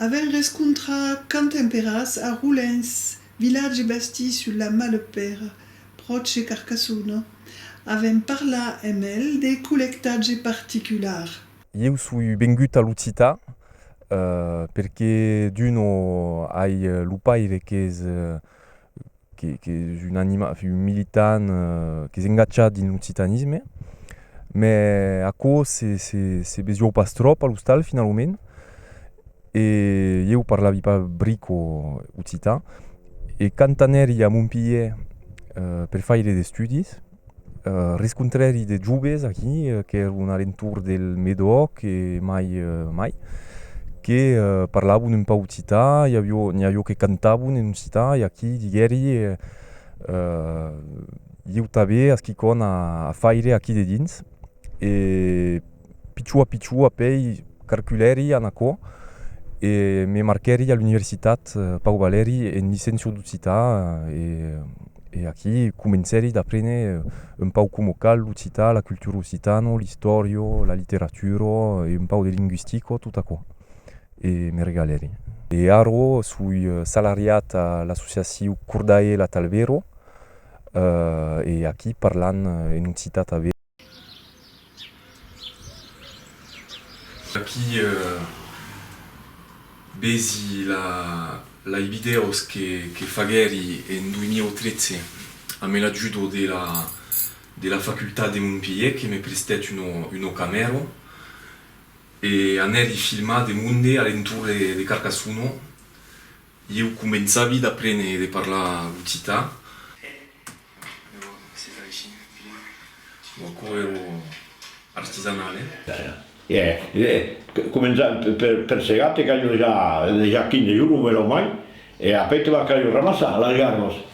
Avèm rescontrat quand temperatz a Roulens, vilatge basti sul la Malepèra, pròche de Carcassona. Avèm parlat amb el de collectatge particular. Ieu soi vengut a l'occitan perque d'un o ai lo paire qu'es qu'es un animal, un militant qu'es engatjat dins l'occitanisme mè aquò se besoiu pas tròp a l'ostal finalament e ieu parlavi pas brico occitan e quand anèri a Montpelhièr per faire d'estudis Rescontrèri de joves aquí qu'èron a l'entorn del Medoc e mai mai que parlavon un pauc occità, i aviá que cantavan en occità e aquí diguèri ieu tanben a quicòm a faire aquí dedins e pichó a pichó a pei carculèri an aquò e me marquèri a l'universitat Pau Valeri en licenciu d'occitan e aquí comencèri d'aprene un pauc coma cal l'occitan, la cultura occitana, l'istòria, la literatura e un pauc de linguistica tot aquò e me regalèri. E ara soi salariat a l'associaciu Cordae Latalvero e aquí parlan en occitan tanben. Aquí vesi la live vidèos que faguèri en 2013 amé l'ajudo de la facultat de Montpelhièr que me prestèt una camèra e anèri filmar de monde a l'entorn de Carcassona. Ieu començavi d'aprene de parlar occitan. E lèu se fa aicí, Filip. Lo corrèu artisanal, eh? Ara. E començam per segar, te calho dejà 15 jorns o mai, e après te va calho ramassar, alargar-los.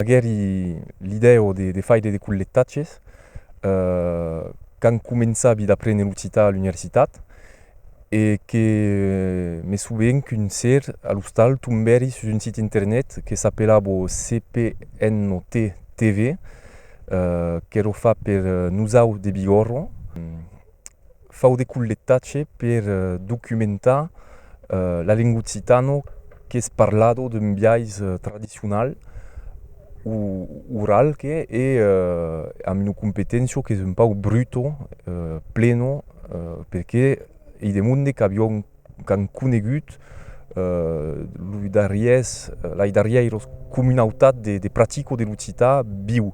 Aguèri l'idèu de faire de collectatges quand començavi d'aprene l'occitan a l'universitat e que me soven qu'un ser a l'ostal tombèri sus un sit internet que s'apelava CPNOT TV qu'èra fach per nosauts de Bigòrra. fau de colletatge per documentar la lenga occitana qu'es parlada d'un biais tradicional o oral que e amb una competéncia qu'es un pauc bruta, plena, perque i demonde qu'aviá un qu'an conegut los darriers, lai darrièiros comunautat de, de pratico de l'occitan viu.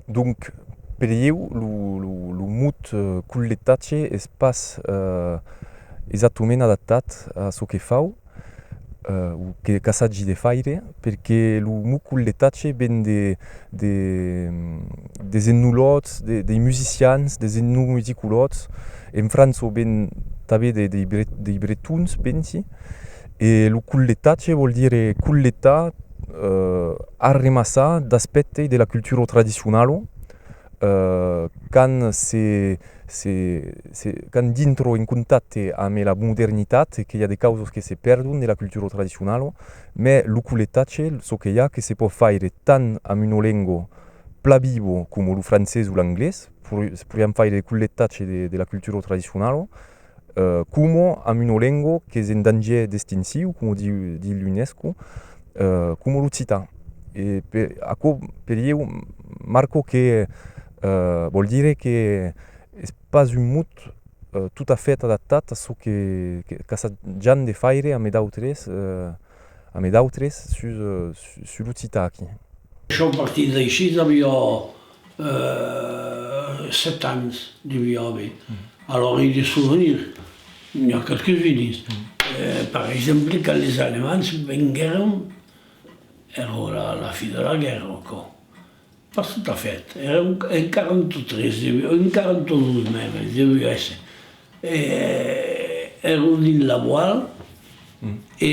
Donc, per ieu, lo, lo, lo mot colletatge es pas exactament adaptat a çò que fau. que qu'assagi de faire perque lo mucul de tache ven de de des ennulots dei musicians des ennuidiculots en frança o ven tanben de dei bretons pensi e lo cul de tache vòl dire culletar arremassar d'aspèctes de la cultura tradicionala quand se se se quand dintro en contacte ame la modernitat que i a de causas que se perdon de la cultura tradicionala mè lo coletatge çò que i a que se pòt faire tant amb una lenga pla viva coma lo francés o l'anglés se podrián faire de coletatge de la cultura tradicionala Como amb una lengo qu'es en dangier d'extinciu, como di l'UNESCO, como l'occitan. E per aquò per ieu marco que vòl dire que es pas un mot tot a fait adaptat a çò qu'assajam de faire amé d'autres amé d'autres sus l'occitan aquí. Son partits d'aissi, d'aviá 7 ans de mi òme, alòra i de souvenirs n'i a quelques unes, per exemple quand les Alemands venguèron, ero a la fin de la guèrra o quò? pas tot a fait, era en 43 deviá, en 42 mèmes deviá èsser, èron dins la voile e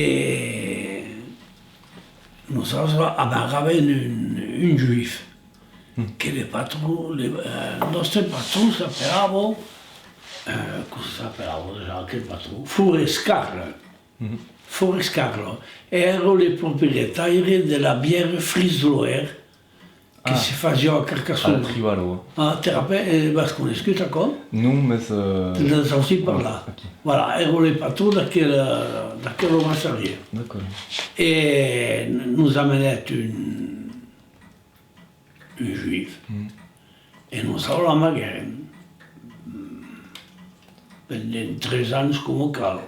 nosautres abarràvem un juif, Que le patron, le nòste patron s'apelava, com se s'apelava dejà aquel patron? Forescarl. Forescarl èra le proprietaire de la bière Frisloer que se fasiá a Carcassona. A Terrapèl. E l'as coneishut aquò? Non, mès. N'as sentit parlar? Aquí. Voilà, èra le patron d'aquela brasserie. D'acòrd. E nos amenèt un. Un juif, e non sauva la mager pendent tres ans coma cal,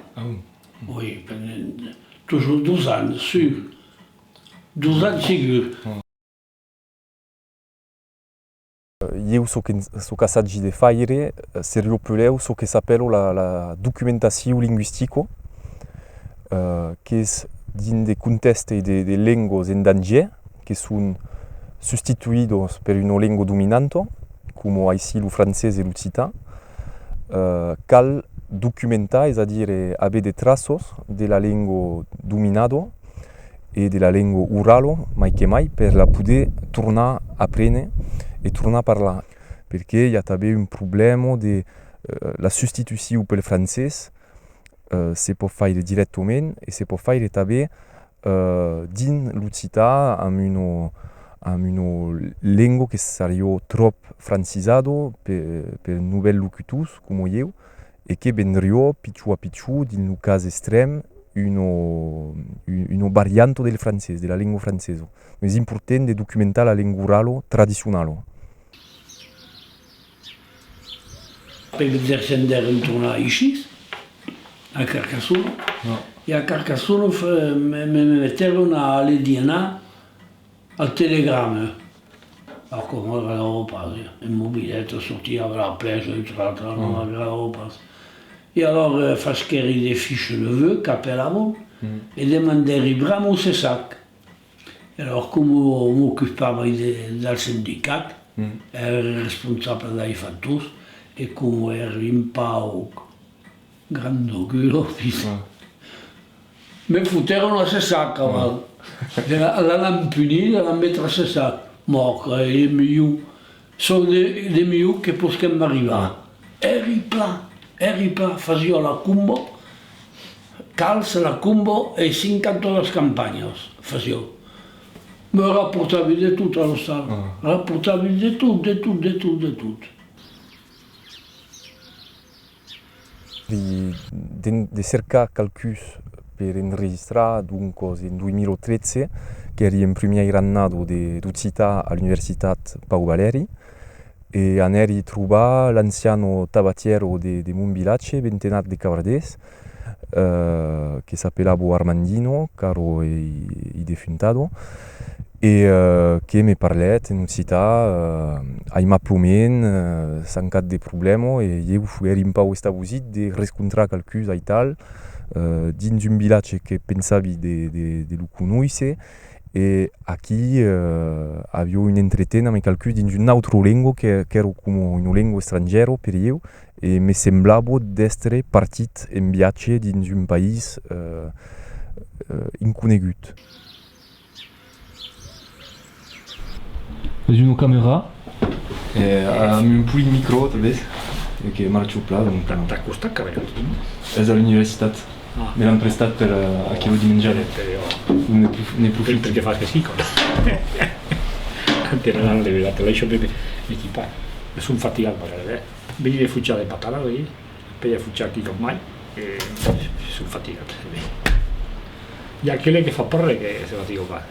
oi, pendent tusjor dos ans, sur, dos ans segur. Ieu çò qu'assagi de faire, se riopulèu çò que s'apèlo la documentaciu linguistico, qu'es dins de contèste de lengos en danger, que son sustituidos per una lengo dominanto, coma aicí lo francés e l'occitan, cal documentar, es a dire aver de traços de la lengo dominado, e de la lengua orala mai que mai per la poder tornar aprene e tornar parlar perque i a tanben un problèma de la sustitucion pel francés se pòt faire dirèctament e se pòt faire tanben dins l'occitan amb una amb una lengua que sariá tròp francizada per novèls locutors coma ieu e que vendrió pichó a pichó dins lo cas estrèm una varianta del francés, de la lengua francesa. Es important de documentar la lengua orala tradicionala. Après de descender en tornar aicí, a Carcassona, e a Carcassona me metèron a aller dinar. Al telegrame, la corròga de ropas, un mobilet a sortir a la plèja utraltra la corròga de ropas. E alòr faschèri de fiches de vœux qu'apelavan e demandèri bram o cessac. E alòr comu m'ocupava del sindicat, èra responsable dei factors e comu èra un pauc Grandó culò dis. Me fotèron la cessac caval. L'an empunit e l'an met la cessac. Mòc, ei eth milhor, çò de milhor que posquem arribar. Eri pla, eri pla, fasió la combo, calç, la combo e cinc cantonas campanhas fasió. Me raportavi de tot a l'ostal, raportavi de tot, de tot, de tot, de tot. de cercar qualcuns per enregistrar doncas en 2013 qu'èri en primièira annada d'occitan a l'universitat Pau Valeri e anèri trobar l'anciano tabatièro de mon vilatge bentenat de Cavardés que s'apelava Armandino caro ei defuntado e que me parlèt en occità aimaplomèn san cap de problèma e ieu foguèri un pauc estabosit de rescontrar qualcús aital dins un vilatge que pensavi de lo conoisser e aquí aviá un entreten amb qualcús dins una autra lenga qu'èra coma una lenga estrangièra per ieu e me semblava d'èstre partit en viatge dins un país inconegut. Es una camera amb un puit micro tanben e que marcha au plat donc. Tà costat que vèn aquí? Es a l'universitat, me l'an prestat per aquelo dimenjada. Ne profito. Per que fas que sí còps. Quand te n'an enlevé la tela, això me l'ai chopé. Son fatigat pas gaire. Veni de fuchar de patada, vei? Pei afuchar quicòm mai, e son fatigat. I a aquele que fa parrè que se fatiga pas.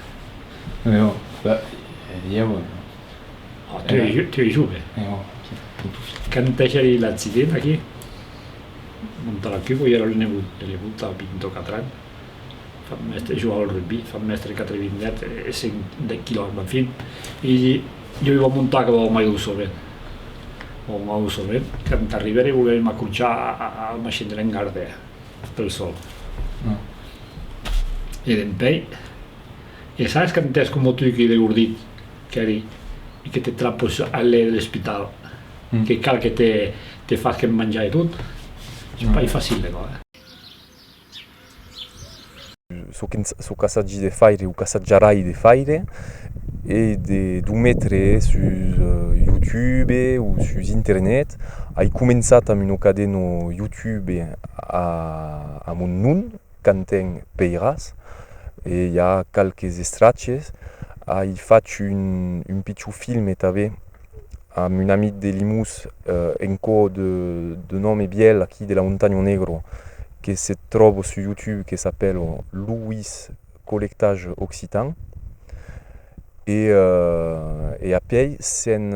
Eo, ben, e dieu e. Oh, tu es, tu es jove. Eo, qui t'o touche. Quand pechèri l'accident aquí, montar la cuba, i era lo nebot de nebota, vint o quatre ans. fam mestre joua al rugbi, fam mestre quatre vinguèt e cinc de quilòmetros, en fin, i di, jo i vau montar que vau mai usovent. Vau mai usovent, quand arribèrem volèrim acrochar al machin de l'engardèr, pel sol. No. E dempèi, e sabes quand es coma tu que de gordit qu'èri e que te trapes al lèu de l'espital, que cal que te te fasquen manjar e tot? Es pas facil de còr. Çò qu'assagi de faire o qu'assatjarai de faire es de lo metre sus youtube o sus internet. Ai començat amb una cadena youtube a mon nom, Quentin Peyras, e i a qualques estrachas. Ai fach un pichon filme tanben. amb un amic de Limús en co de nòme bièl aquí de la Montanha Negro que se tròba sus YouTube que s'apèla Louis Collectage Occitan e e apièi s'en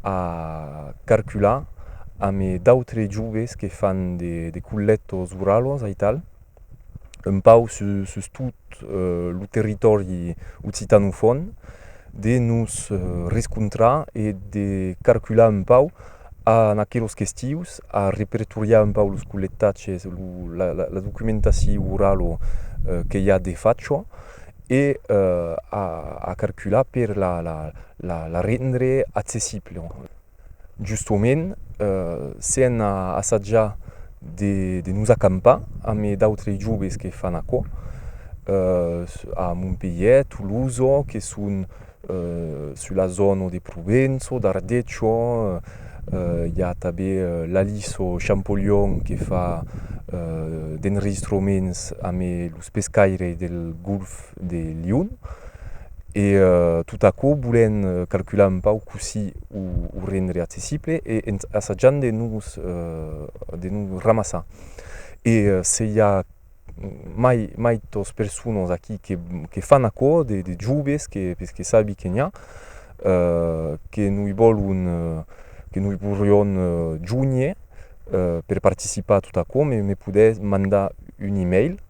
a carcular amb d'autres joves que fan de collectors orals aital. un pauc sus tot lo territòri occitanofòn, de nos rescontrar e de carcular un pauc en aquelos qu'estius, a repertoriar un pauc los collectatges, la documentacion orala que i a de fachò e a carcular per la rendre accessible. Justement, se an assajat de nos acampar ame d'autres joves que fan aquò a Montpelhièr, Tolosa, que son sus la zona de Provença, d'Ardètxa, i a tanben l'Aliso Champolion que fa d'enregistrements ame los pescaires del Golf cap de lion e tot aquò volent calcular un pauc cossí o rendre accessible e assajant de nos de nos ramassar e se i a mai maitas personas aquí que que fan aquò de de joves que que sabi que n'i a que noi vòlon que noi vorrion jonher per participar a tot aquò me podètz mandar un email